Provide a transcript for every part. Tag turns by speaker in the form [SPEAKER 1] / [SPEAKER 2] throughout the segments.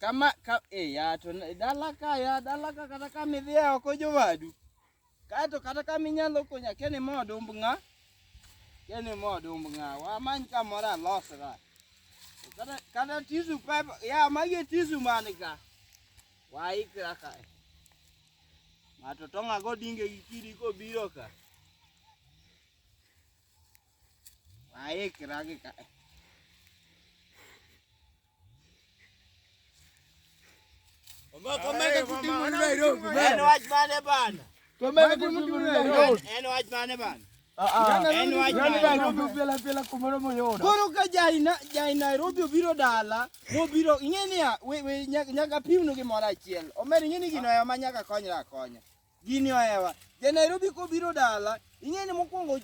[SPEAKER 1] kama ka, e, ya, to dala ka ya dala ka kata kama idhi e oko jowadu kaeto kata kama inyalo konya keni ma odumb ng'a keni ma odumb ng'a wamany kamoro alosra kata, kata tisu pepa ya magi e tisu man ka waikra ka ng'ato tong'ago dinge gi kidi kobiro ka Aik ragi ka. Komeka kuti mtu Nairobi.
[SPEAKER 2] Eno wajmane
[SPEAKER 1] bana. Komeka
[SPEAKER 2] kuti mtu Nairobi. Eno wajmane bana. Koro ka
[SPEAKER 1] jai Nairobi obiro dala mobiro ing'e niya nyaka pimnu gimoro achiel omer ing'e ni gino ema nyaka konyra akonya Gini ohewa. Ja Nairobi kobiro dala, ing'e ni mokwongo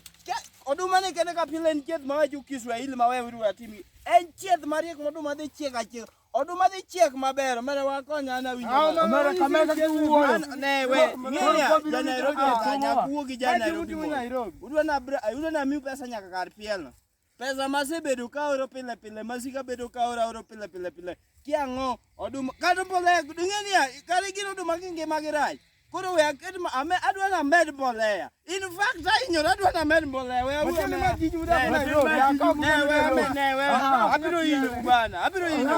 [SPEAKER 1] oduma ne kende ka pile en chieth mawacho Kiswahili ma wewe uru atim. En chieth mariek moduma dhi chiek achiek. Oduma dhi chiek maber, mara wakonya na winjo. Ah, mara kamera kuwo.
[SPEAKER 2] Ne we,
[SPEAKER 1] ng'eya ja Nairobi ta nyakuwo gi ja Nairobi. Udwa na udwa na miu pesa nyaka kar piel. Pesa masebedo ka oro pile pile, masika bedo ka oro oro pile pile pile. Kiang'o oduma kata mbolea ding'e niya kata gin oduma gi ngima gi rach. Koro we aket ma ame adwa na med mbolea. In fact ahinyora adwa na med mbolea. We awuo Matiende ma tij udak Ne, Nairobi, ne, akaw ne, mwandu we, Nairobi. ne, we. Aha. Abiro hinyo bwana, abiro hinyo.